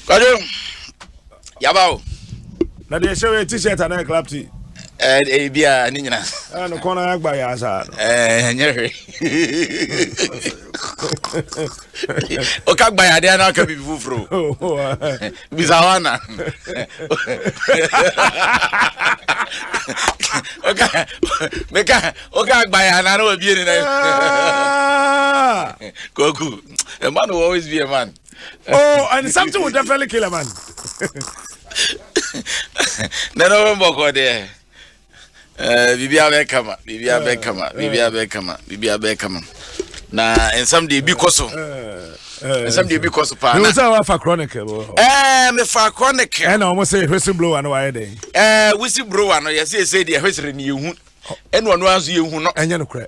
Kɔde yaba o. Na deɛ ɛhyɛ wɛ t-shirt anaa club tee. Ɛɛ eh, eh, bia ne nyina. Ɛɛ ah, no kɔn ayɛ agba yɛ asa. Ɛɛ nyɛ hwɛ. Ɔka gba yɛ adeɛ anaa ɔka bibi foforo. Bisa hɔ ana. Ɔka meka ɔka gba yɛ anaa na wabie ne nan. Kwaku, a man will always be a man. oh, and something will definitely kill a man. no, no, no, no, Eh, bibi abɛ kama bibi abɛ eh, kama eh. bibi abɛ kama bibi abɛ kama na nsɛm deɛ ebi kɔ so nsɛm deɛ ebi kɔ so paa. nsa wa fa chronic wɔ. ɛɛ mi fa chronic. ɛna wɔn sɛ whistle blower no wayɛ dɛ. ɛɛ whistle blower no yɛ sɛ ɛsɛ deɛ whistle ni yɛ hu ɛna ɔno aso yɛ hu no. ɛnyɛ no korɛ.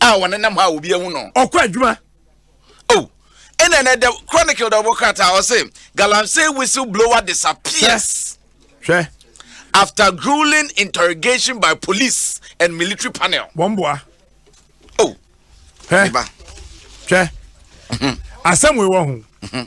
a ɔnenam hɔ a obi ahu no. Ɔkɔ adwuma. Oh, ɛna ɛnɛ the chronicle da ɔbɔ krataa ɔse galamsey whistle blower disappears. Hwɛ. After grueling interrogation by police and military panel. Wɔn boa. Oh. Hwɛ. Hwɛ. Asɛm wei wɔ ho.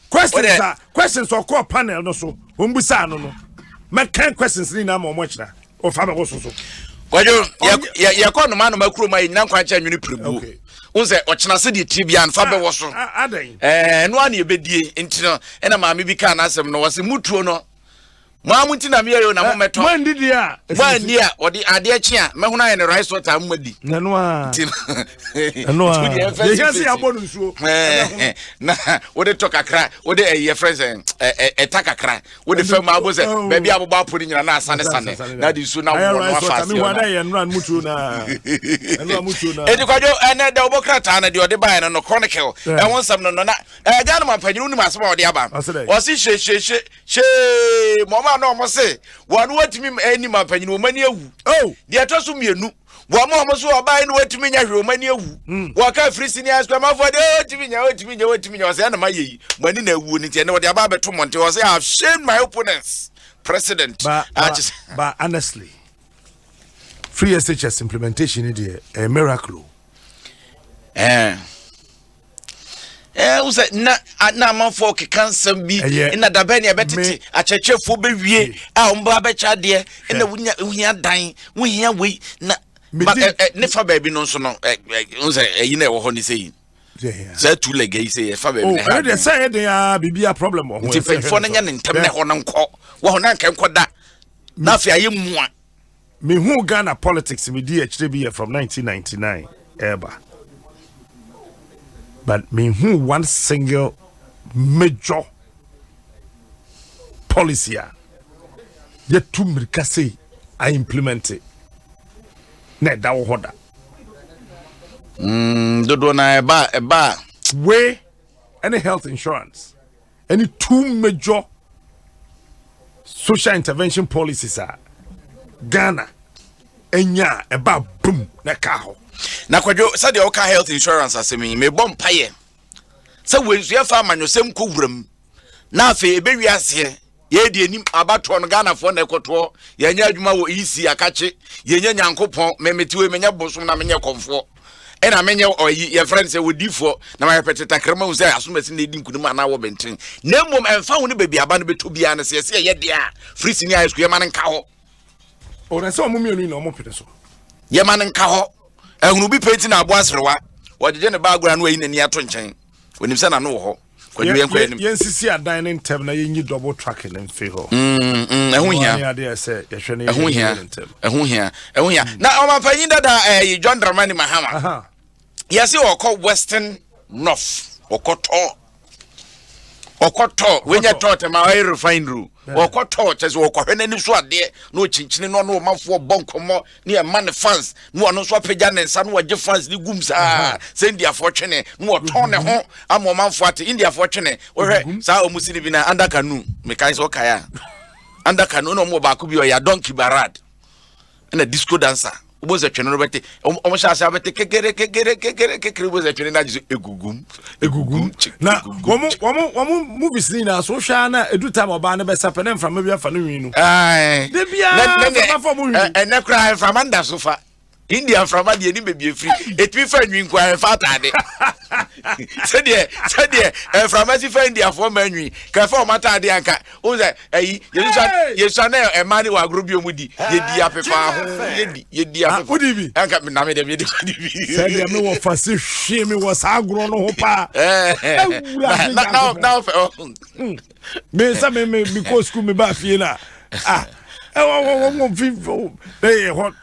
questions a questions ɔkɔɔ panel no so wɔn busaa no no mɛkan questions ne nyinaa ma wɔn akyerɛ ɔfa bɛbɔ so so. kwadwo yɛkɔ noma noma kurom a yɛnyina nkwa nkyɛn nwene piribuo n sɛ ɔkyena sɛ deɛ tiri bia nfa bɛwɔ so ɛno a ne yɛbɛdie nti no ɛna maame bi kaa n'asɛm no wɔse mutuo no Mo ara mo nti na meyɛyɛ o na mo mɛtɔ. Mo anni deɛ a ɛsisi. Mo anni a wɔde adeɛ kye a mɛhono ayɛ ne rice water mo adi. Ɛno a. Nti ɛno a. Yɛ yɛ se abɔ no nsuo. Na wode tɔ kakra wode ɛyɛ eh, friends ɛta eh, eh, kakra wode fɛ mu abo sɛ oh. baabi a bobɔ apo ne nyina na asane sane na de nsuo na wɔ no afa aseɛ no. Ɛti kwadwo ɛnɛ dɛ wobɔ krataa no deɛ ɔde baeɛ no no chronicle ɛho nsɛm no no na ɛgya no ma mpanyin wonim asɛm a wɔde aba ɔse hyehyehye Hwee, wɔn a na wɔse wɔn ano atumi ma ɛnni ma mpanyin, wɔn ani awu. Oh! Deɛ ɛtɔ so mmienu, wɔn a wɔse wɔbae no wɔatumi nyɛ hwee, wɔn ani awu. Mm. Wɔka afiri sini high school amanfoɔ de, wɔtumi nyɛ, wɔtumi nyɛ, wɔtumi nyɛ, wɔsɛ ɛna mayɛ yi, wɔn ani na awuo no nti, ɛnɛ wɔde aba abɛto mmɔnten, wɔse I have shamed my opponents, president. Ba, ba, ba, honestly, free SHS implementation ni deɛ, a miracle. Eh. ɛɛ wosɛ na na amanfoɔ keka nsɛm bi na dabɛ ne ɛbɛtete akyerɛkyerɛfoɔ bɛwie a wɔn ba bɛkyɛ adeɛ na wonya wohia dan wohia wei na ba ɛ ɛ ne fa baabi no nso no ɛ ɛ wosɛ ɛyi na ɛwɔ hɔ ne sɛ yi sɛ tu lɛgɛ yi sɛ yɛfa baabi na ɛha deɛ sɛ yɛ den a biribi a problem wɔ ho nti fɛnfoɔ no nyɛ ne ntɛm na ɛhɔ no nkɔ wɔ hɔ na nkɛ nkɔ da na afei ayɛ mua Me huu Ghana politics me di akyire bi yɛ from 1999 ɛba but me huu one single major policy a yɛ tu mirika sei a implement it na ɛda wɔ hɔ da. Mm, dodoɔ na ɛba ɛba. wei ɛne health insurance. ɛne two major social intervention policies a ghana ɛnya a ɛba bum na ɛka hɔ na kwadwo sɛdeɛ woka health insurance asɛm yi mebɔ mpayɛ sɛ wɔnsuafa amanyɔsɛm kɔ wuram na afei ɛbɛwi aseɛ Yei deɛ nim abatoɔ no Ghanafoɔ na ɛkɔtoɔ yɛnyɛ adwuma wɔ EC akakye yɛnyɛ Nyankopɔn me mete wei menyɛ bosom na menyɛ kɔmfoɔ ɛna menyɛ ɔyi yɛfrɛ no sɛ odifoɔ na mayɛ pɛtetakra mahu sɛ asomasi na ɛdi nkunim anaa wɔ bɛnten na mmom ɛmfa ho ne baabi aba no bɛtɔ biara no sɛ yɛsɛ yɛyɛ deɛ a firi sini ayɛ sukuu yɛma no nka hɔ ɔna sɛ ɔmo mmienu na ɔmo pene so yɛma no nka hɔ ahunu bi pɛ nti na aboa serewa wɔgyegye ne baagora no ayi n'ani ato nkyɛn onim sɛ n'ano wɔ hɔ kwadwo yɛn kɔ yɛn nim. yɛn sisi adan ne ntɛm na yɛn nyi double track ne nfe hɔ. Mm, mm, ɛho hia ɛho adeɛ sɛ yɛhwɛ ne ɛho yɛn hia ne ntɛm. ɛho hia ɛho hia na ɔmampanyin dada ɛyi eh, john dramani mahama Aha. yɛse ɔkɔ western north ɔkɔtɔ ɔkɔtɔ wenya tɔ tɛma ɔyɛ refinery o. ɔkɔtɔ kyɛ sɛ ɔkɔhwɛ n'ani so adeɛ na ɔkyinkyini no ɔne ɔmanfoɔ bɔ nkɔmmɔ ne ɛma ne fans ne ɔno nso apagya ne nsa na wɔgye fans ne gum saa sɛ indiafoɔ twene na wɔtɔn ne ho ama ɔmanfoɔ ate indiafoɔ twene wɔhwɛ saa ɔmo si ne bi na under canoe mekae sɛ ɔkae a under canoe na ɔmo wɔ baako bi ɔyɛ adonki barad ɛna disco dancer wobɛhu sɛ twene no bɛte ɔmo hyɛ ase abɛte kekere kekere kekere kekere wobɛhu sɛ twene no agye so ɛgugum egugu na wɔn wɔn wɔn movies ni nyinaa so hwɛ ara na edu time ɔbaa no bɛsa pɛ ne nframa bi afa no nwi no. de bia nframa fɔ mu nwi. ɛnɛ koraa nframa nda so fa india nframa deɛ ni beebi efiri etumi fa nwi nko ara ɛfa ataade sɛdeɛ sɛdeɛ nframa si fa indiafoɔ ma nwi kɛfɛ wɔn ataade anka Wohu sɛ ɛyi yɛsua yɛsua na ɛma ne wɔ agorɔ bio mu di yɛdi afefaa ho yɛdi yɛdi ah, afefaa wodi bi ɛnka na me dɛm yɛdi kɔdi bi sɛdeɛ me wɔ fa se hwee me wɔ saa agorɔ no ho paa eh, eh, eh. ɛwura na na na ɔfɛ ɔ oh. hmm. me sɛ me me me kɔ sukuu me ba fie na ah ɛwɔ wɔ wɔ wɔ fi ɛyɛ hɔ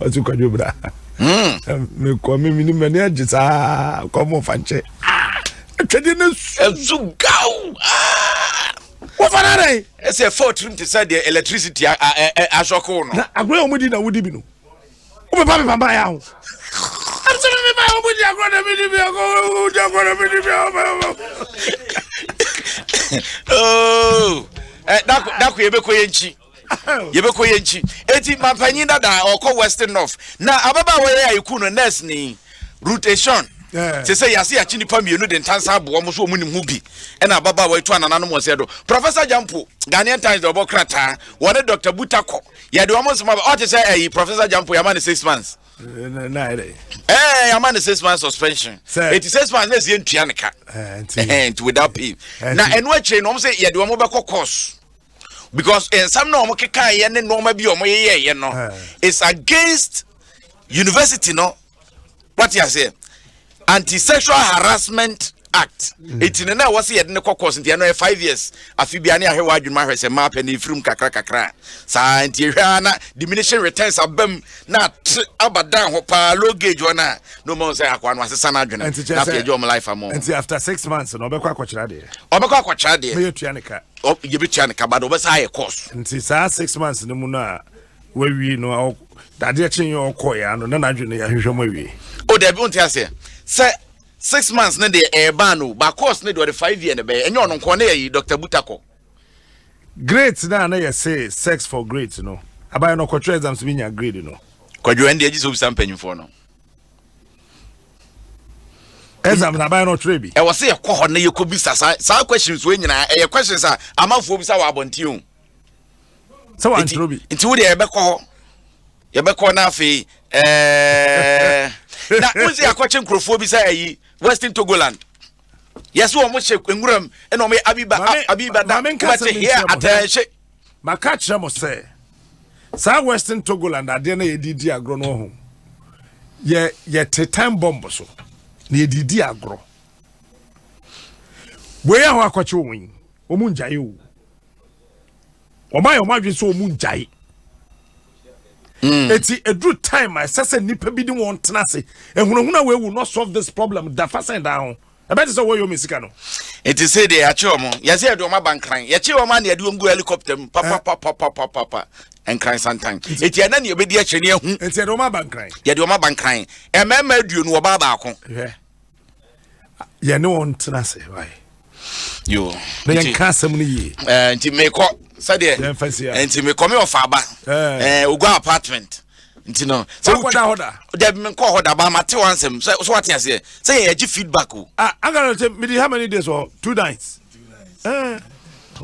ɔsi kwadwo bra hmm. mekɔ me mene m'ani agye saa kɔ mo fa nkyɛ atwadeɛ no asu gaw wɔfa no adɛn ɛsɛ ɛfa ɔtirim te sɛ deɛ electricity asɔkow no na agorɔ yɛ ɔmudi na wodi bi no wobɛpa me papa yɛ ho ɛsɛ me mepa yɛ ɔmudi agorɔ na medi bi agorɔ agorɔ na medi bi agorɔ oh, eh, dako yɛbɛkɔ yɛ nkyi Yɛbɛkɔ yɛn kyi. Enti mampanyin dada a ɔkɔ Western North. Na ababaawa yi a yɛkuu no, nurse ni, Ruth Eshon. Te sɛ yɛase akye nnipa mmienu de ntansa aboa wɔn so wɔn nim ho bi. Ɛna ababaawa yi to anananom wɔn sɛ do. Professor Gyampo, Ghanaian Times de ɔbɔ krataa, wɔne Doctor Buta kɔ. Yɛde wɔn nsɛm aba, ɔte sɛ ɛyi, Professor Gyampo, yɛama no six months. Ɛɛ, yɛama no six months suspension. Eti six months na ɛsɛ yɛntua ne ka. Nti without pay. Na ɛno akyire no, wɔn sɛ yɛde wɔn bɛkɔ course. because nsɛm na wɔn keka yɛ ne nneɛma bi a wɔn yeyɛ yɛ no eh. is against university no wate aseɛ anti sexual harassment act mm. eti ne na wɔsi yɛde ne kɔ course nti ɛno yɛ five years afi bia ne ahwɛ wɔ adwuma ahwɛ sɛ mmaa pɛ ne efirim kakra kakra saa nti ehwɛ na diminishing returns abam na ate abadan hɔ paa low gauge hɔ na na ɔma sɛ akoa no asesa no adwene na afei agye ɔmo life ama ɔmo nti after six months na ɔbɛkɔ akɔkyerɛ adeɛ ɔbɛkɔ akɔkyerɛ adeɛ bɛyɛ tua ne ka yɛbɛtua ne ka bade ɔbɛsa ayɛ course nti saa six months no mu no a wawie no dadeɛ kye yɛ ɔkɔ yɛ ano na n'adwene yɛ ahwehwɛ mu awie o dabi wonte aseɛ sɛ six months ne deɛ ɛɛbaa no ba course ne deɛ ɔde five year ne bɛyɛ ɛnyɛ ɔno nkɔ ne yɛyi dr butakɔ Great na na yɛ se sex for great no. Aban no kɔtwerɛ exams bi nya grade no. Kwadwo ɛnde agye sɛ obisa mpanyinfoɔ no. Exam na aban no ɔtwerɛ bi. Ɛwɔ sɛ yɛkɔ hɔ na yɛkɔ bisa saa saa questions wɔ nyinaa ɛyɛ questions a amanfoɔ bisa wɔ abɔnten o. Sɛ wantwerɛ bi. Nti wo deɛ yɛbɛkɔ hɔ yɛbɛkɔ na afei ɛɛ na wonsi akɔkye nkurɔfoɔ bi sɛ ayi Western Togoland. Yes, wɔn mo hyɛ nwura mu ɛna wɔn yɛ abiba abiba da wɔbɛte hia atɛnhye. Maka kyerɛ mo sɛ saa western togoland adeɛ na yɛde di agorɔ no ho yɛ yɛte time bomb so na yɛde di agorɔ wei a hɔ akɔkye wɔn yi wɔn ngyae o. wɔn ayɛ wɔn adwene sɛ wɔn ngyae hmm. eti eduru time a ɛsɛ sɛ nipa bi ne wɔn tena ase ehunahuna wei will not solve this problem dafa sɛn dan ho ɛbɛ ti sɛ wɔyɛ wɔn sika no. eti sɛ deɛ yɛakye wɔn yɛsɛ yɛde wɔn aba nkran yɛkye wɔn a na yɛde wɔn gu helicopter mu papapapapapa nkran santan eti ɛna nea ebedi akyɛ ne ehu. eti yɛde wɔn aba nkran. yɛde wɔn aba nkran mmarima aduonu ɔbaa baako. Yeah. yɛne wɔn ntena ase wae yo na yɛnka asɛm no yie eh, nti mekɔ sɛdeɛ eh, nti mekɔ me ɔfa aba eh. ogua apartment nti no sɛ wokɔda hɔ da da menkɔ hɔ da baa mate wɔ ansɛm so wate aseɛ sɛ yɛyɛgye feedback o ah, angara sɛ mede how many days or two nights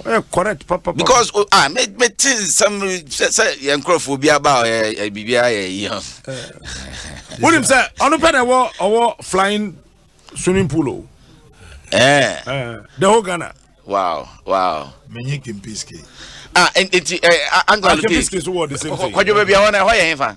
ɔyɛ correct papa. because o oh, ah me me ti nsɛm sɛ sɛ yɛn nkorɔfoɔ bi aba ɔyɛ ɛ biribi ayɛ yi hàn. wúnim sɛ ɔno pɛ na ɛwɔ ɔwɔ flying swimming pool o. ɛɛ ɛɛ the whole ghana. wow wow. menye kempiske. ah nti ɛ anglo kempiske so wɔ the same thing. kwadwo baabi a wɔn na ɛhɔ yɛ hefa.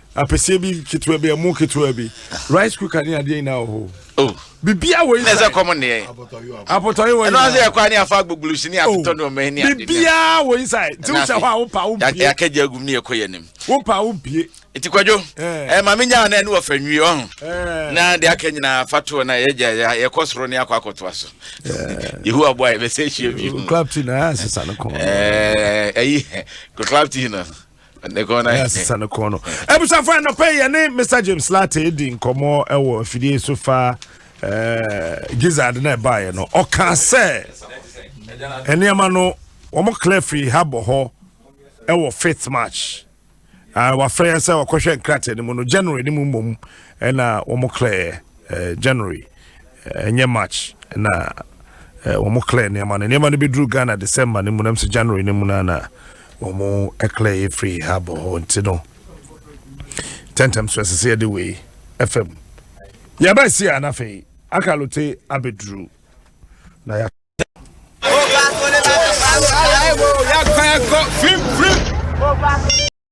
Apɛsɛɛ bi ketewa bi ɛmo ketewa bi rice cooker ne adeɛ nyinaa wɔ hɔ. Oh. Bibia wɔ Israel. Na ɛsɛ kɔm ne yɛn. Apɔtɔyɛ wɔ Israel. Ɛno ase ɛkɔ ani afa agbogbo si ne oh. atotɔ ne ɔmɛ ni adi. Bibia wɔ Israel. Ti wosɛ hɔ a wo pa wo bie. Yɛ akɛgye agum ne yɛ kɔ yɛ nim. Wo pa wo bie. Eti kwadwo. Ɛɛ eh. eh, maame nyaa na ɛne wɔ fɛ nwie ɔho. Ɛɛ eh. na de aka nyinaa fa to na yɛ gya yɛ kɔ soro ne akɔ akɔto aso. Ɛɛ yehu abo a yɛ bɛ sɛ ehyia bi. Club tea na ayɛ asesa ne kɔn. Ɛɛ ɛyi club tea na. ɛsesa ne kɔn no abusafo anɔpɛ yɛ ne mr james late di nkɔmmɔ wɔ afidie so fa gizard na ɛbaeɛ no ɔka sɛ nneɛma no wɔn clear firi ha bɔ hɔ wɔ fifth march wafrɛ yɛn sɛ wɔkɔhwɛ nkrataa no mu no january no mu mmom ɛna wɔn clear january Ɛnyɛ March na wɔn clear nneɛma no. Nneɛma no bɛduru Ghana December no mu nam sɛ January no mu no na wɔn clear yɛ firi ha bɔ hɔ nti no. Tɛntɛm so ɛsɛ sɛ yɛde wei ɛfɛ mu. Yɛbɛ si a n'afei akalote abɛduru na yɛ. Yɛakɔ yɛkɔ fim fim.